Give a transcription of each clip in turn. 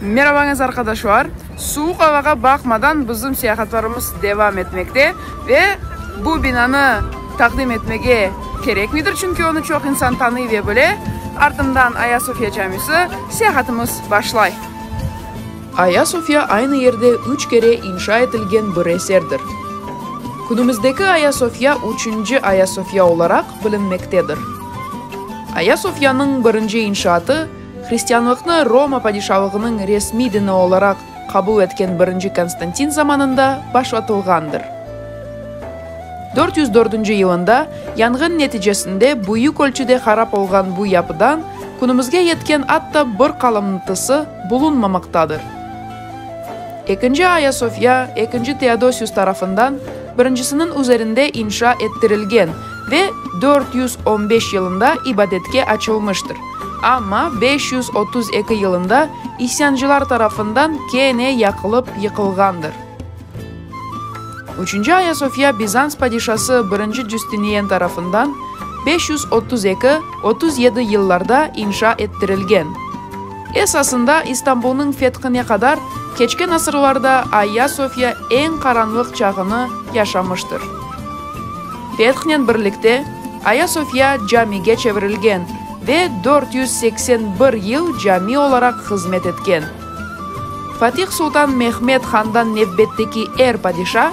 Merabañız arqadaşlar! Suvuq avağa baqmadan bizim seyahatlarımız devam etmekte ve bu binanı taqdim etmege kerekmidir, çünki onı çoq insan tanıy ve bile. Artımdan Aya Sofya camisi, seyahatımız başlay. Aya Sofya aynı yerde üç kere inşa etilgen bir eserdir. Künümizdeki Aya Sofya üçünci Aya Sofya olaraq bilinmektedir. Aya Sofyanıñ birinci inşaatı, Hristianlıqnı Roma padişalığınıñ resmiy dini olaraq qabul etken birinci Konstantin zamanında başlatılğandır. Dört yüz dördünci yılında yanğın neticesinde büyük ölçüde harap olğan bu yapıdan künümizge yetken atta bir qalınntısı bulunmamaqtadır. Ekinci Ayasofya ekinci Teodosius tarafından birincisiniñ üzerinde inşa ettirilgen ve dört yüz on beş yılında ibadetke açılmıştır. Amma beş yüz otuz eki yılında isyancılar tarafından kene yaqılıp yıqılğandır. Üçünci Ayasofya Bizans padişası birinci Cüstiniyen tarafından beş yüz otuz eki, otuz yedi yıllarda inşa ettirilgen. Esasında İstanbulnıñ fethine qadar keçken asırlarda Ayasofya eñ qaranlıq çağını yaşamıştır. Fethnen birlikte, Ayasofya camige çevirilgen ve dört yüz seksen bir yıl cami olaraq hızmet etken. Fatih Sultan Mehmed Handan nevbetteki er padişa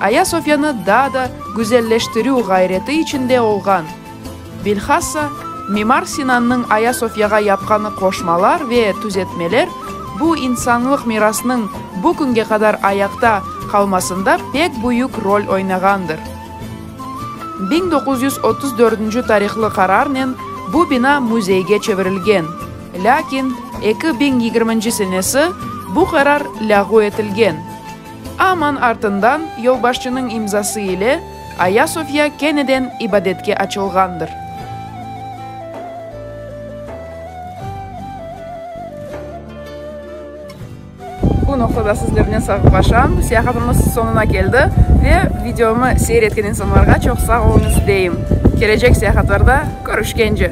Ayasofyanı daa da güzelleştirüv ğayreti içinde olğan. Bilhassa, Mimar Sinannıñ Ayasofyağa yapqanı qoşmalar ve tüzetmeler bu insanlıq mirasnıñ bu künge qadar ayaqta qalmasında pek büyük rol oynağandır. Biñ doquz yüz otuz dördünci tarihlı qararnen bu bina müzeyge çevirilgen, lâkin eki biñ yigirminci senesi bu qarar lâğu etilgen. Aman artından yolbaşçınıñ imzası ile Ayasofya keneden ibadetke açılğandır. Bu noqtada sizlernen sağlaşam. Seyahatımız soñuna keldi ve videomı seyir etken insanlarğa çoq sağ oluñız deyim. Kelecek seyahatlarda körüşkence!